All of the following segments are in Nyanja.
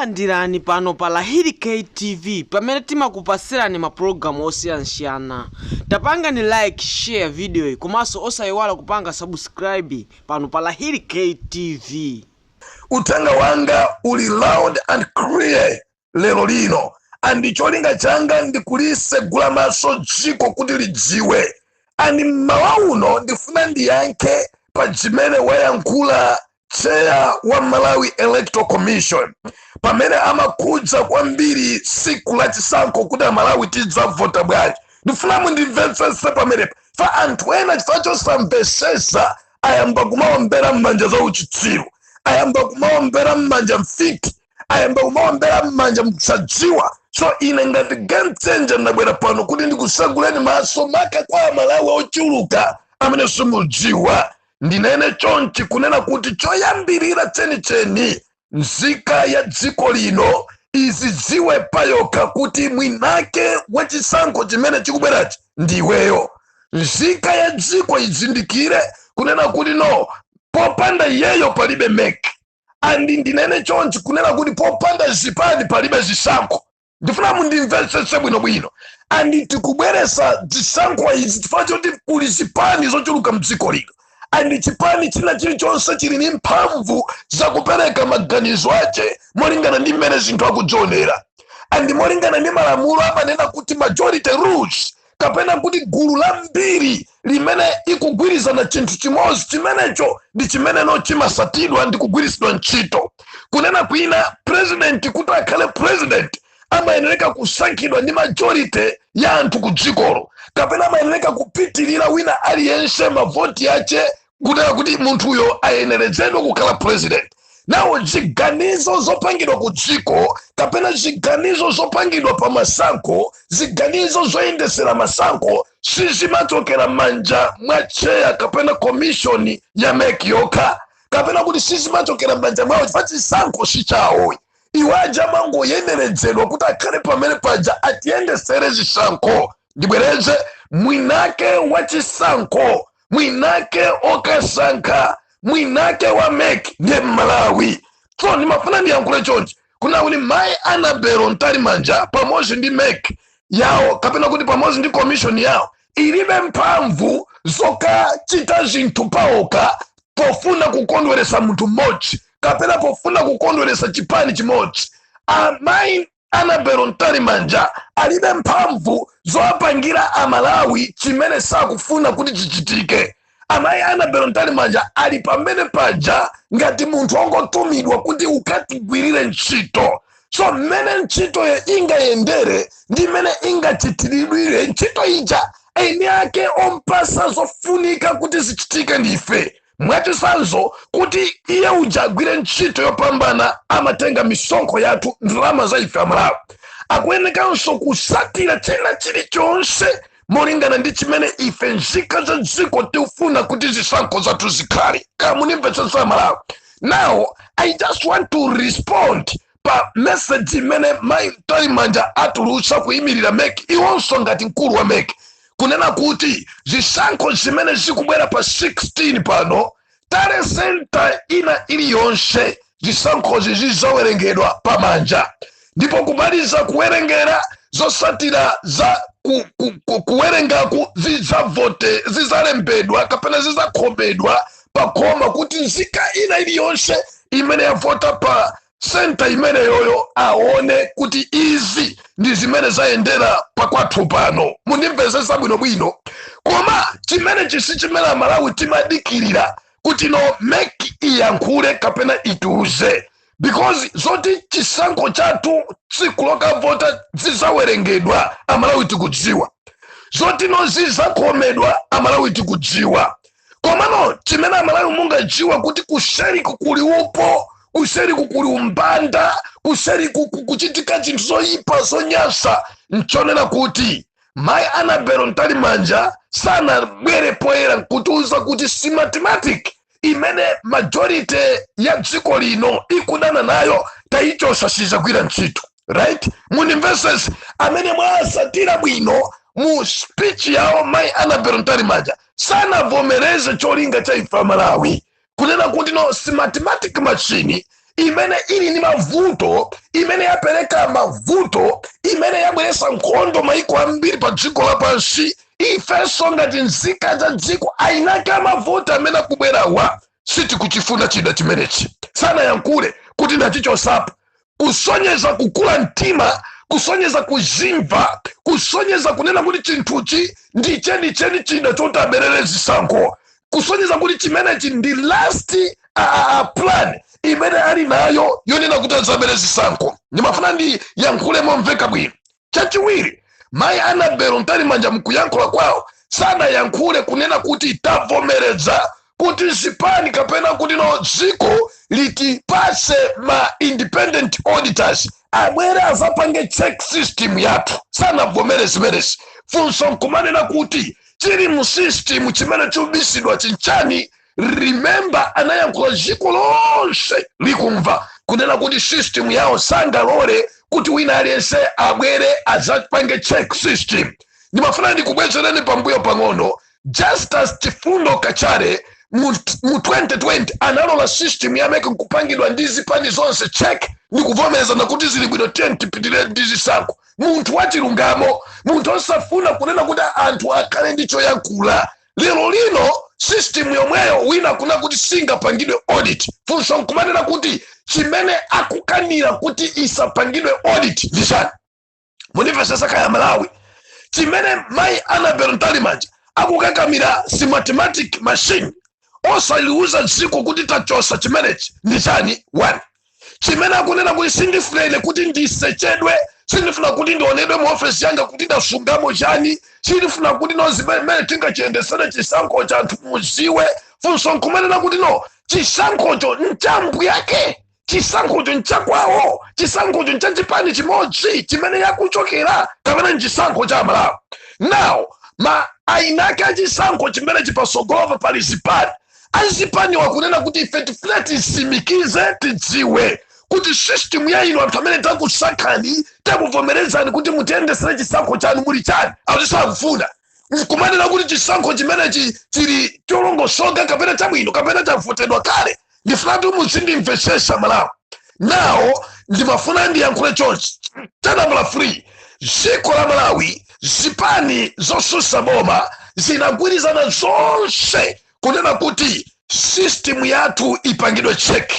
Takulandirani pano pa Lahiri K TV pamene timakupasirani ma program osiyanasiyana. Tapangani like, share video yi komanso osayiwala kupanga subscribe pano pa Lahiri K TV. Uthenga wanga uli loud and clear lero lino and cholinga changa ndi kulisegula maso dziko kuti lidziwe and mmawa uno ndifuna ndiyankhe pa zimene wayankhula chair wa malawi electoral commission pamene amakhudza kwambiri siku la chisankho kuti amalawi tidzavota bwanji ndifuna mundimvetsese pamenepa fa anthu ena chifukwa chosamvesesa ayamba kumaombera m'manja za uchitsiru ayamba kumaombera m'manja mfiti ayamba kumaombera m'manja msadziwa so ine ngati game changer ndabwera pano kuti ndikuseguleni maso maka kwa amalawi ochuluka amene simudziwa ndinene chonchi kunena kuti choyambirira chenicheni nzika ya dziko lino izidziwe payokha kuti mwinake wa chisankho chimene chikubwerachi ndi iweyo nzika ya dziko izindikire kunena kuti no popanda iyeyo palibe mek andi ndinene chonchi kunena kuti popanda zipani palibe zisankho ndifuna mundimvetsetse bwinobwino and tikubweresa zisankho izi chifukwa choti kuli zipani zochuluka mdziko lino and chipani china chilichonse chili ndi mphamvu zakupereka maganizo ache molingana ndi mmene zinthu akudzionera and molingana ndi malamulo amanena kuti majority rules kapena kuti gulu lambiri limene ikugwirizana chinthu chimodzi chimenecho ndi chimene chimasatidwa ndi kugwiritsidwa ntchito kunena kwina president kuti akhale president amayenereka kusankhidwa ndi majority ya anthu ku dzikolo kapena amayenereka kupitirira wina aliyense mavoti ache kunena kuti munthuyo ayenerezedwe kukhala president nawo ziganizo zopangidwa ku dziko kapena ziganizo zopangidwa pa masankho ziganizo zoyendesera masankho sizimachokera manja mwa chair kapena commission ya mek yokha kapena kuti sizimachokera manja mwawo chifukwa chisankho si chawo iwo aja amangoyenerezedwa kuti akhale pamene paja atiyendesere zisankho ndibwereze mwinake wa chisankho mwinake okasankha mwinake wa mek ndiye mmalawi so ndimafuna ndiyankhule chonchi kuna kuti mai annabel mtalimanja pamodzi ndi mek yawo kapena kuti pamodzi ndi commission yawo ilibe mphamvu zokachita zinthu paokha pofuna kukondweresa munthu mmodzi kapena pofuna kukondweresa chipani chimodzi amayi anabelo mtalimanja alibe mphamvu zowapangira amalawi chimene sakufuna kuti chichitike amayi anabelo mtalimanja ali pamene paja ngati munthu ongotumidwa kuti ukatigwirire ntchito so mmene ntchitoyo ingayendere ndi mmene ingachitiridwire ntchito ija eni ake ompasa zofunika kuti zichitike ndife Mwachitsanzo, kuti iye uja agwire ntchito yopambana amatenga misonkho yathu, ndalama za ife Amalawi. Akuyenekanso kusatira china chilichonse molingana ndi chimene ife nzika za dziko tikufuna kuti zisankho zathu zikhale. Kaya munimvetsetsa Amalawi. Now, I just want to respond pa meseji imene mayi mtalimanja atulutsa kuyimirira mec iwonso ngati mkulu wa mec kunena kuti zisankho zimene zikubwera pa 16 pano tally senta ina iliyonse zisankhozi zizawerengedwa pamanja ndipo kumaliza kuwerengera zosatira za ku, ku, ku, kuwerengaku za mavoti zizalembedwa kapena zizakhomedwa pakhoma kuti nzika ina iliyonse imene yavota pa senta imeneyoyo aone kuti izi ndi zimene zayendera pakwathu pano mundimvesese bwinobwino koma chimene chisi chimene amalawi timadikirira kuti no mec iyankhule kapena itiuze because zoti chisankho chathu tsiku lokavota zizawerengedwa amalawi tikudziwa zoti no zizakhomedwa amalawi tikudziwa komano chimene amalawi mungadziwe kuti kuseriku kuli upo kuseriku kuli umbanda kuseriku ku- kuchitika zinthu zoyipa zonyasa nchonena kuti mayi anabelo mtalimanja sanabwere poyera nkutiuza kuti smartmatic imene majority ya dziko lino ikudana nayo tayichosa sizagwira ntchito right munimvesese amene mwasatira bwino mu speech yawo mai anabel mtalimanja sanavomereze cholinga cha ife amalawi kunena kuti no smartmatic machine imene ili ndi mavuto imene yapereka mavuto imene yabweresa nkhondo maiko ambiri pa dziko lapansi ifenso ngati nzika za dziko eni ake amavuto amene akubwerawa sitikuchifuna chida chimenechi sanayankhule kuti ndachichosapo kusonyeza kukula mtima kusonyeza kuzimva kusonyeza kunena kuti chinthuchi ndi chenicheni chida choti aberere zisankho kusonyeza kuti chimenechi ndi last a, a, a plan imene ali nayo yonena kuti azabere zisankho ndimafuna ndiyankhule momveka bwino chachiwiri mayi Annabel Mtalimanja mkuyankhula kwawo sanayankhule kunena kuti tavomereza kuti zipani kapena kuti no dziko litipase ma independent auditors abwere azapange check system yathu sanavomere zimenezi funso nkumanena kuti chili mu system chimene chobisidwa chinchani remember anayankhula dziko lonse likumva kunena kuti system yawo sangalole kuti wina aliyense abwere adzapange check system ndimafuna ndikubwezereni pambuyo pang'ono Justice Chifundo Kachale mu mu 2020 analola system ya MEC nkupangidwa ndi zipani zonse check ndikuvomerezana kuti zili bwino tiye tipitire ndi zisankho munthu wachilungamo munthu osafuna kunena kuti anthu akhale ndi choyankhula lero lino system yomweyo wina akunena kuti singapangidwe audit funso nkumanena kuti chimene akukanira kuti isapangidwe audit ndi chani mundimvesesa kaya aMalawi chimene mayi Annabel Mtalimanja akukakamira Smartmatic machine osaliuza dziko kuti tachosa chimenechi ndi chani one chimene akunena kuti sindifuna ine kuti ndisechedwe sindifuna kuti ndionedwe mu ofesi yanga kuti ndasungamo chani sindifuna kuti no zimene mmene tingachiyendesere chisankho cha anthu muziwe funso nkumanena kuti no chisankhocho ncha mbuyake chisankhocho nchakwawo chisankhocho nchachipani chimodzi chimene akuchokera kapena nchisankho cha amalawi now eni ake achisankho chimene chili patsogolopa pali zipani Azipaniwa akunena kuti ife tifuna tisimikize tidziwe kuti system ya inu anthu amene takusankhani takuvomerezani kuti mutiyendesere chisankho chanu muli chani atisakufuna nkumanena kuti chisankho chimenechi chili cholongosoka kapena chabwino kapena chavotedwa kale ndifunatu muzindimvesesa malawi now ndimafuna ndiyankhule chonchi cha nambala 3 dziko la malawi zipani zosusa boma zinagwirizana zonse kunena kuti system yathu ipangidwe check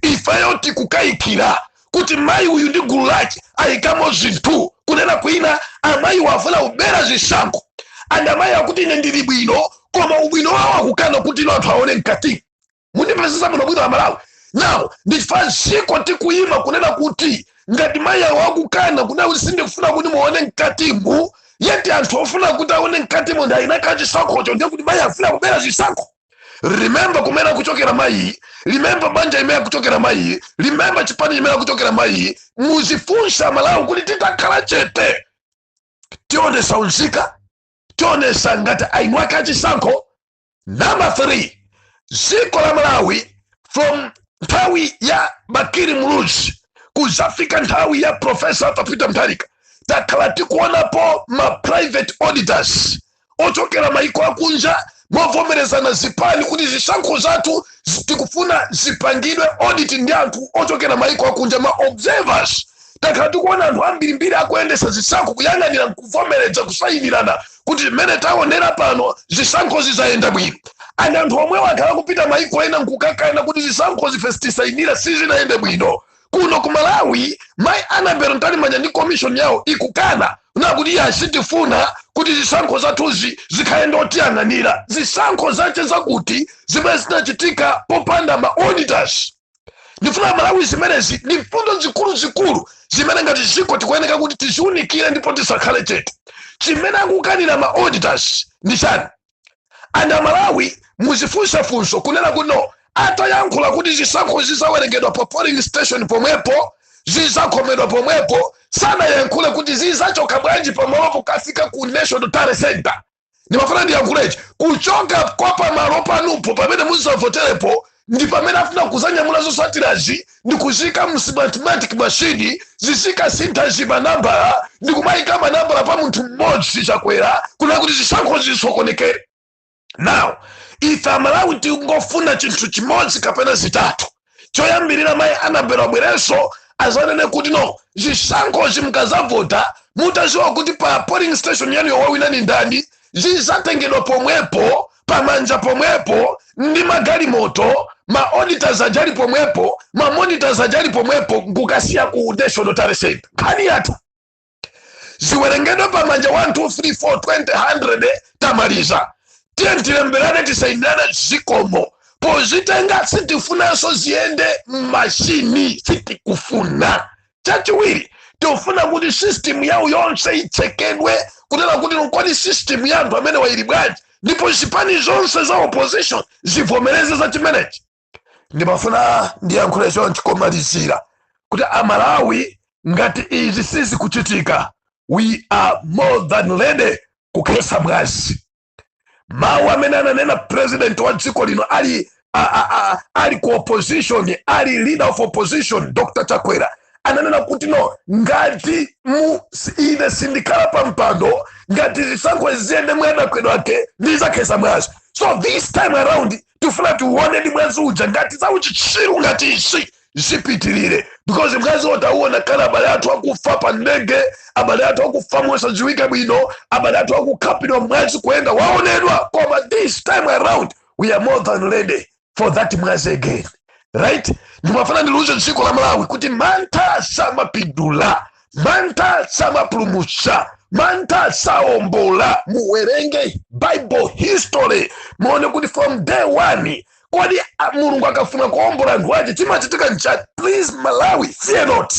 ifeyo tikukayikira kuti mayi uyu ndi gulu lake ayikamo zinthu kunena kwina amayiwa afuna kubera zisankho and amayi akuti ine ndili bwino koma ubwino wawo akukana kuti no anthu aone mkati mundimvesesa bwino bwino amalawi now ndichifukwa ziko tikuyima kunena kuti ngati mayi awo akukana kunena kuti sindikufuna kuti muone mkatimu yet anthu ofuna kuti aone mkatimu ndi eni ake chisankhocho ndiye kuti mayi afuna kubera chisankho remember kumene akuchokera mayi remember banja imene akuchokera mayi remember chipani chimene akuchokera mayi muzifunsa malawi kuti titakhala chete tionesa unzika tionesa ngati eni ake achisankho number 3 dziko la malawi from nthawi ya bakili muluzi kuzafika nthawi ya profesa arthur peter mutharika takhala tikuonapo ma private auditors ochokera maiko akunja movomerezana zipani kuti zisankho zathu zi- tikufuna zipangidwe audit ndi anthu ochokera maiko akunja ma observers takhala tikuona anthu ambirimbiri akuyendesa zisankho kuyang'anira nkuvomereza kusayinirana kuti mmene taonera pano zisankho zizayenda bwino and anthu omwewo akhala kupita maiko ena nkukakana kuti zisankho ife sitisayinira sizinayende bwino kuno ku malawi mai anabel mtalimanja ndi komishoni yawo ikukana nakuti ayi sitifuna kuti zisankho zathuzi zikhale ndi otiyang'anira zisankho zake zake ziti zimene zinachitika popanda ma auditors ndifuna malawi zimenezi ndi mfundo zikuluzikulu zimene ngati ziko tikuyeneka kuti tiziunikire ndipo tisakhale chete chimene akukanira ma auditors ndi chani and amalawi muzifunsa funso kunena kuti no atayankhula kuti zisankho zizawerengedwa pa polling station pomwepo zizakhomedwa pomwepo sanayankhule kuti zizachoka bwanji pamalopo kafika ku national tally center ndimafuna ndiyankhule ichi kuchoka kwa pamalo panupo pamene muzavoterepo ndi pamene afuna kuzanyamula zosatirazi ndi kuzika msmartmatic mashini zizikasintha zimanambala ndi kumayika manambala pa munthu mmodzi chakwera kunena kuti zisankho zisokonekere now ife amalawi tingofuna chinthu chimodzi kapena zitatu choyambirira mayi anabel abwerenso azanene kuti no zisankho zi mukazavota mutaziwa kuti pa polling station yanu yo wawina ndi ndani zizatengedwa pomwepo pamanja pomwepo ndi magalimoto ma auditors ali pomwepo ma monitors ali pomwepo nkukasiya ku national tally center nkhani yatha ziwerengedwe pa manja 1 2 3 4 20 100 tamaliza tiye tilemberane tisainirane zikomo pozitenga sitifunanso ziyende mmashini sitikufuna chachiwiri tikufuna kuti system yawo yonse ichekedwe tione kuti kodi system ya anthu amenewa ili bwanji ndipo zipani zonse za opposition zivomereze za chimenechi ndimafuna ndiyankhule chonchi komalizira kuti amalawi ngati izi sizikuchitika we are more than ready kukhetsa mwazi mawu amene ananena president wa dziko lino ali a, a, a, ali ku opposition ali leader of opposition dr chakwera ananena kuti no ngati ine sindikhala pa mpando ngati zisankho ziyende mwadodgedodge ndizakhetsa mwazi so this time around tifuna tiuone ndi mwazi uja ngati za uchitsiru ngati izi zipitirire because mwaziwo tauona kale abale athu akufa pa ndege abale athu akufa mosadziwika bwino abale athu akukhapidwa mwazi kuyenda waonedwa koma this time around we are more than ready for that mwazi again right ndimafuna ndiliuze dziko la malawi kuti mantha samapindula mantha samapulumutsa mantha saombola muwerenge bible history muone kuti from day one kodi a- mulungu akafuna kuombola anthu ache chimachitika nchani please malawi fear not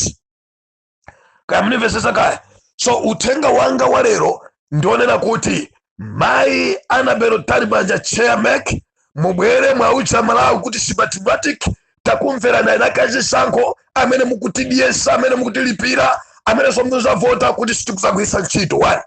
kaya mnimvesesa kaya so uthenga wanga wa lero ndi onena kuti mayi annabel mtalimanja chair mec mubwere muwauze amalawi kuti smartmatic takumverani eni ake a chisankho amene mukutidyesa amene mukutilipira amenenso muzavota kuti sitikuzagwiritsa ntchito one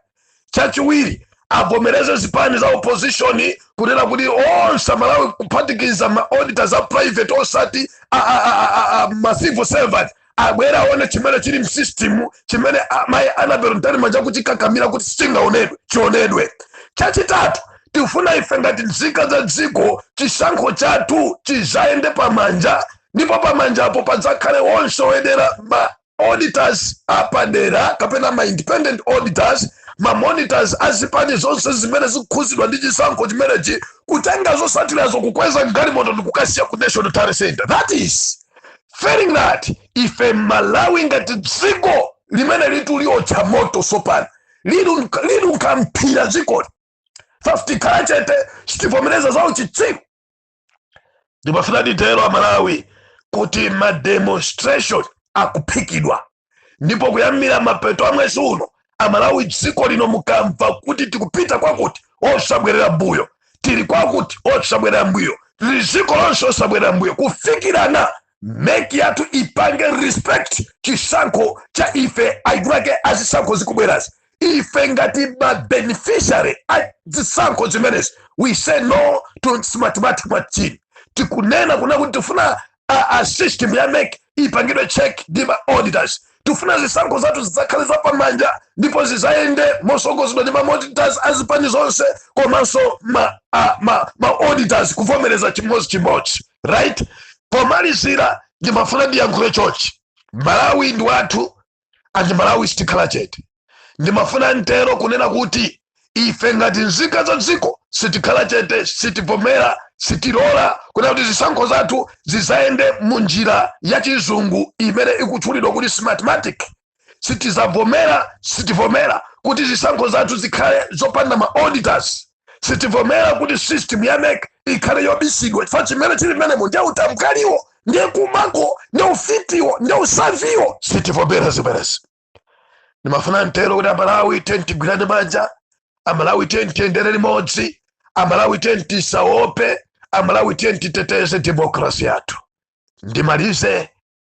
chachiwiri avomereze zipani za opposition kunena kuti onse amalawi kuphatikiza ma auditors a private osati a- a- a- a- a- ma civil servant abwere aone chimene chili m'system chimene mayi annabel mtalimanja akuchikakamira kuti sichingaonedwe chionedwe chachitatu tifuna ife ngati nzika za dziko chisankho chathu chizayende pamanja ndipo pamanja apo padzakhale wonse oyendera ma auditors apadera kapena ma independent auditors ma monitors azipani zonse zimene zikukhuzidwa ndi chisankho chimenechi kutenga zosatirazo kukweza galimoto ndikukasiya ku national tally center that is failing that ife malawi ngati dziko limeneli tiliotcha moto sopano linunkha mphira dzikoli ife sitikhala chete sitivomereza za uchitsiru ndimafuna nditero amalawi kuti mademonstration akuphikidwa ndipo kuyambira mapeto a mwezi uno amalawi dziko lino mukamva kuti tikupita kwakuti osabwerera mbuyo tili kwakuti osabwerera mbuyo tili dziko lonse osabwerera mbuyo kufikirana mec yathu ipange respect chisankho cha ife eni ake azisankho zikubwerazi ife ngati mabeneficiary a zisankho zimenezi we say no to smartmatic machine tikunena kuna kuti tifuna a system ya mec ipangidwe check ndi ma auditors tifuna zisankho zathu zidzakhale zapamanja ndipo zizayende mosogozedwa ndi ma monitors azipani zonse komanso ma, a, ma, ma auditors kuvomereza chimodzi chimodzi right pomalizira ndimafuna ndiyankhule chochi malawi ndi wathu and malawi sitikhala chete ndimafuna ntero kunena kuti ife ngati nzika za dziko sitikhala chete sitivomera sitilola kunena kuti zisankho zathu zizayende mu njira ya chizungu imene ikutchulidwa kuti smartmatic sitizavomera sitivomera kuti zisankho zathu zikhale zopanda ma auditors sitivomera kuti system ya MEC ikhale yobisidwa chifukwa chimene chili mmenemo ndiye utambwaliwo ndiye kubako ndiye ufitiwo ndiye usathiwo sitivomera zimenezi ndimafuna nditero kuti amalawi tiyeni tigwirane manja amalawi tiyeni tiyendere limodzi amalawi tiyeni tisaope amalawi tiyeni titeteze demokrasi yathu ndimalize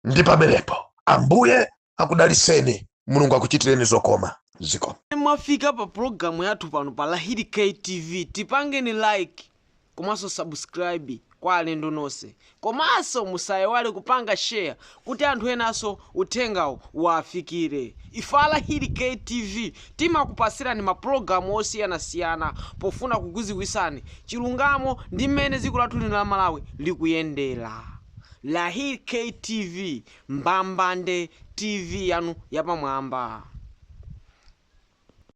ndi pamenepo ambuye akudaliseni mulungu akuchitireni zokoma zikomo mwafika pa pulogalamu yathu pano pa Hi ktv tipangeni like komanso subscribe kwa alendo nonse komanso musayiwale kupanga share kuti anthu enanso uthengawo uwafikire ife a Hi ktv timakupasirani mapulogalamu osiyanasiyana pofuna kukuziwisani chilungamo ndi mmene dziko lathu lino la malawi likuyendera Lahir Kay TV mbambande TV yanu yapamwamba.